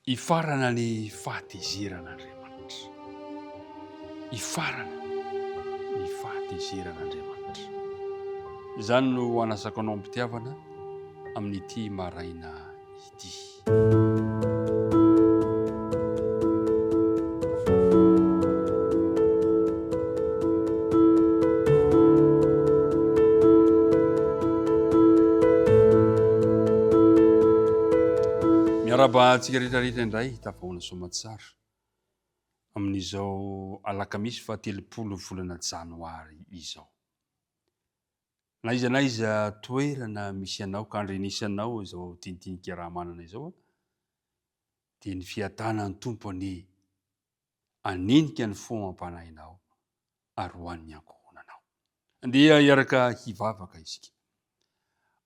Hifarana ny fahatezeran' Andriamanitra. Hifarana ny fahatezeran' Andriamanitra. Izany no hanasako anao am-pitiavana amin' ity maraina ity. Miarahaba antsika rehetra rehetra indray tafahoana soamatsara amin'izao alakamisy fa telopolo volana janoary izao. Na iza na iza toerana misy anao ka andrenisanao izao tintinika raha manana izao dia ny fiatanan'ny tompo anie hanenika ny fo amam-panahinao ary ho an'ny ankohonanao. Andeha hiaraka hivavaka isika.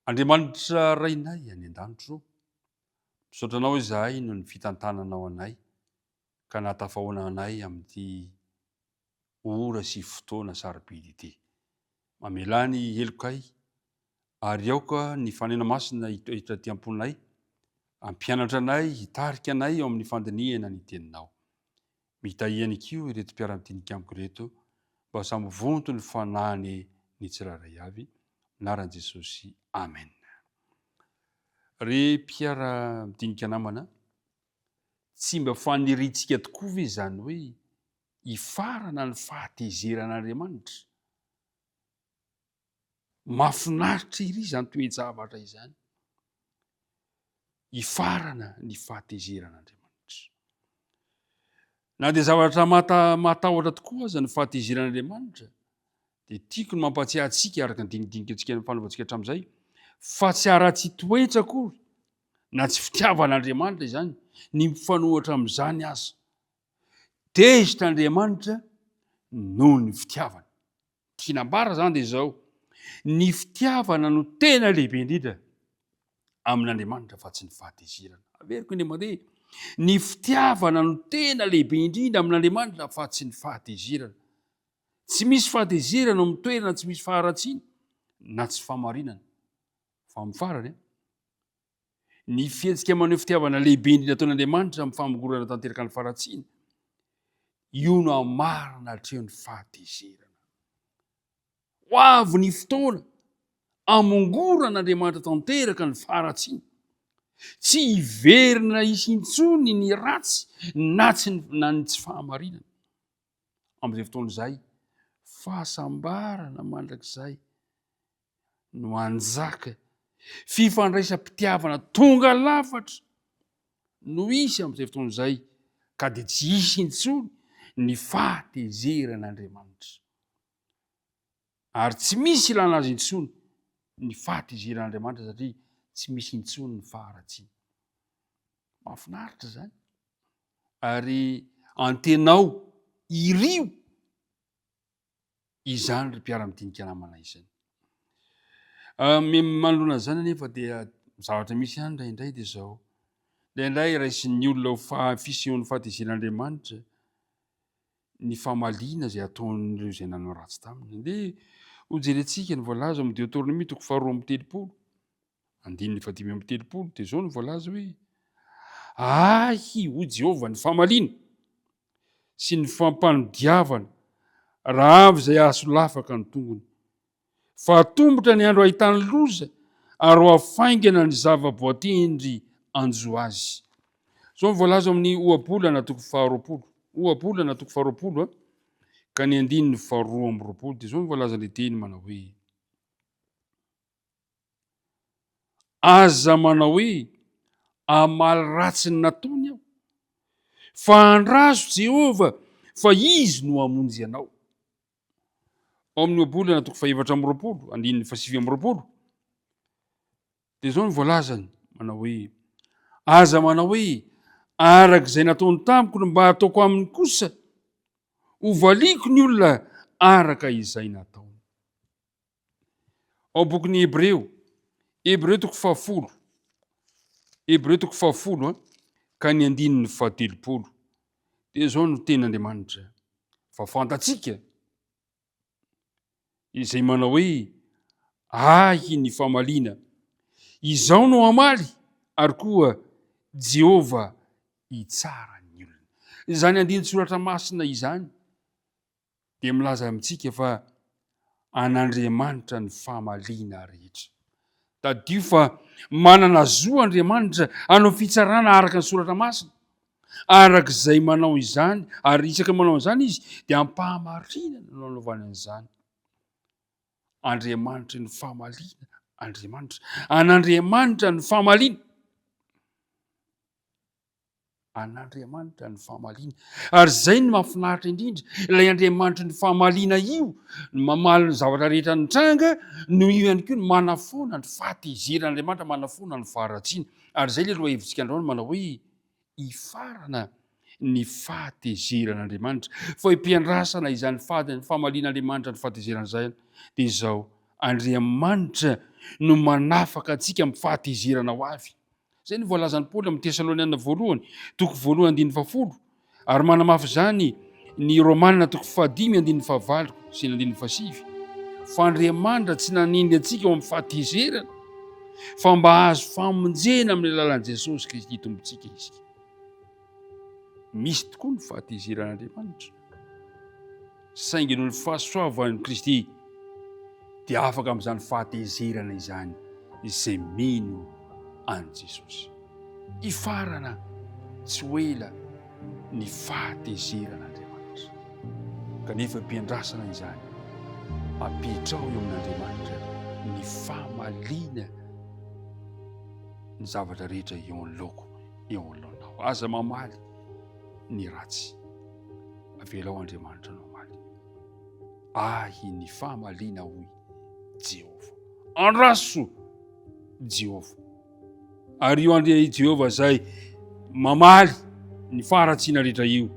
Andriamanitra Rainay any an-danitro ô, misaotra Anao izahay noho ny fitantananao anay ka nahatafahoana anay amin'ity ora sy fotoana sarobidy ity. Mamelà ny helokay ary aoka ny Fanahy Masina hitoetra aty am-ponay, hampianatra anay, hitarika anay eo amin'ny fandinihana ny Teninao. Mitahy ihany koa ireto mpiara-mdinika amiko ireto mba samy vonto ny fanahiny ny tsirairay avy, anaran'i Jesosy, Amen. Ry mpiara-mdinika namana, tsy mba faniriantsika tokoa ve izany hoe hifarana ny fahatezeran'Andriamanitra? Mahafinaritra ery izany toe-javatra izany. Hifarana ny fahatezeran'Andriamanitra. Na dia zavatra matahotra tokoa aza ny fahatezeran'Andriamanitra, dia tiako ny mampatsiahy antsika araka ny dinidinika antsika ny fanaovantsika hatramin'izay, fa tsy haratsy toetra akory na tsy fitiavan'Andriamanitra izany ny mifanohitra amin'izany aza. Tezitra Andriamanitra noho ny fitiavany. Tiana ambara izany dia izao, ny fitiavana no tena lehibe indrindra amin'Andriamanitra fa tsy ny fahatezerana. Averiko indray mandeha, ny fitiavana no tena lehibe indrindra amin'Andriamanitra fa tsy ny fahatezerana. Tsy misy fahatezerana amin'ny toerana tsy misy faharatsiana na tsy famarinana. Fa amin'ny farany, ny fihetsika maneho fitiavana lehibe indrindra ataon'Andriamanitra amin'ny famongorana tanteraka ny faharatsiana, io no hamarana hatrehin'ny fahatezerana. Ho avy ny fotoana hamongorana Andriamanitra tanteraka ny faharatsiana. Tsy hiverina hisy intsony ny ratsy na tsy na ny tsy fahamarinana. Amin'izay fotoana izay, fahasambarana mandrakizay no hanjaka. Fifandraisam-pitiavana tonga lafatra no hisy amin'izay fotoana izay, ka dia tsy hisy intsony ny fahatezeran'Andriamanitra. Ary tsy misy ilana azy intsony ny fahatezeran'Andriamanitra, satria tsy misy intsony ny faharatsiana. Mahafinaritra izany. Ary antenao, irio izany ry mpiara-midinika namana izany. Ah, manoloana izany anefa dia zavatra misy ihany indraindray dia izao. Indraindray raisin'ny olona ho fisehoan'ny fahatezen'Andriamanitra ny famaliana izay ataon'ireo izay nanao ratsy taminy. Dia hojerentsika ny voalaza amin'ny Deoteronomia toko faharoa amby telopolo. andininy fahadimy amby telopolo dia izao no voalaza hoe ahy hoy Jehovah ny famaliana sy ny fampanodiavana raha avy izay ahasolafaka ny tongony. Fa atombotra ny andro ahitany loza ary ho afaingana ny zava-boatendry anjo azy. Izao no voalaza amin'ny ohabolana toko faharoapolo. Ohabolana toko faharoapolo a. Ka ny andininy faharoa amby roapolo dia izao no voalazan'ilay teny manao hoe Aza manao hoe, Hamaly ratsy ny nataony aho. Fa andraso Jehovah fa izy no hamonjy anao. Ao amin'ny Ohabolana toko fahefatra amby roapolo, andininy fahasivy amby roapolo, dia izao no voalazany, manao hoe, Aza manao hoe, Araka izay nataony tamiko no mba hataoko aminy kosa, hovaliako ny olona araka izay nataony. Ao bokin'ny Hebreo, Hebreo toko fahafolo, Hebreo toko fahafolo an, ka ny andininy fahatelopolo. Dia izao no tenin'Andriamanitra. Fa fantatsika izay manao hoe ahy ny famaliana. Izao no hamaly ary koa Jehovah hitsara ny olony. Izany andinin-tsoratra masina izany dia milaza amintsika fa an'Andriamanitra ny famaliana rehetra. Tadidio fa manana zo Andriamanitra hanao fitsarana araka ny Soratra Masina. Araka izay manao izany, ary isaka manao izany izy, dia ampahamarinana no anaovany an'izany. Andriamanitry ny famaliana Andriamanitra. An'Andriamanitra ny famaliana. an'Andriamanitra ny famaliana. Ary izay ny mahafinaritra indrindra, ilay Andriamanitry ny famaliana io, ny mamaly ny zavatra rehetra nitranga, noho io ihany koa ny manafoana ny fahatezeran'Andriamanitra, manafoana ny faharatsiana. Ary izay ilay lohahevitrika androany manao hoe hifarana ny fahatezeran'Andriamanitra. Fa hipiandrasana izany famalian'Andriamanitra ny fahatezerana izany dia izao, Andriamanitra no manafaka antsika amin'ny fahatezerana ho avy. Izay no voalazan'i Paoly amin'ny Tesaloniana voalohany, toko voalohany andininy fahafolo, ary manamafy izany ny Romana toko fahadimy andininy fahavalo sy ny andininy fahasivy, fa Andriamanitra tsy nanendry antsika ho amin'ny fahatezerana, fa mba hahazo famonjena amin'ny alalan'i Jesosy Kristy Tompontsika isika. Misy tokoa ny fahatezeran'Andriamanitra. Saingy noho ny fahasoavan'i Kristy dia afaka amin'izany fahatezerana izany izay mino an'i Jesosy. Hifarana tsy ho ela ny fahatezeran'Andriamanitra. Kanefa am-piandrasana izany, apetraho eo amin'Andriamanitra ny famaliana ny zavatra rehetra eo anoloako, eo anoloanao. Aza mamaly. ny ratsy. Avelao Andriamanitra anao omaly. Ahy ny fahamaliana hoy Jehovah. Andraso Jehovah. Ary io andria i Jehovah izay mamaly ny faharatsiana rehetra io,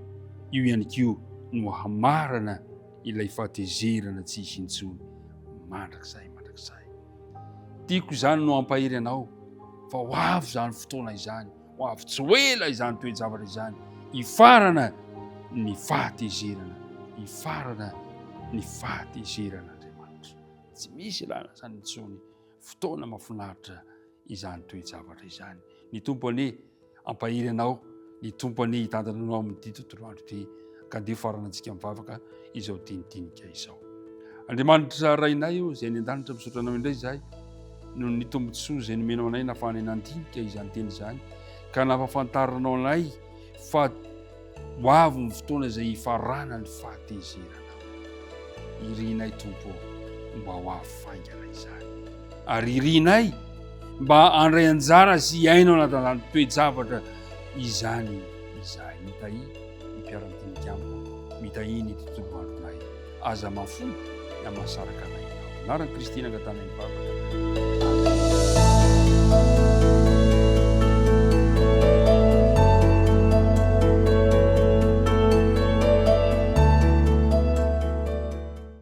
io ihany koa no hamarana ilay fahatezerana tsy hisy intsony mandrakizay mandrakizay. Tiako izany no hampahery anao fa ho avy izany fotoana izany. Ho avy tsy ho ela izany toe-javatra izany, hifarana ny fahatezerana, hifarana ny fahatezeran'Andriamanitra. Tsy misy ilana izany intsony, fotoana mafinaritra izany toe-javatra izany. Ny Tompo anie ampahery anao, ny Tompo anie hitantana anao amin'ity tontolo andro ity. ka dia faranantsika mivavaka izao dinidinika izao andriamanitra rainay io izay ny an-danitra misaotra anao indray izahay noho ny tombontsoa izay nomenao anay nafahanay nandinika izany teny izany ka nafafantarinao anay fa ho avy ny fotoana izay hifarana ny fahatezerana irinay tompo mba ho avy faingana izany ary irinay mba andray anjara sy hiaino anatanany toe-javatra izany izahay mitahi ny mpiara-dinika amiko mitahiana ity tontolo andronay. Aza mahafoy na mahasaraka anay ianao. Anaran'i Kristy no angatanay ny vavaka.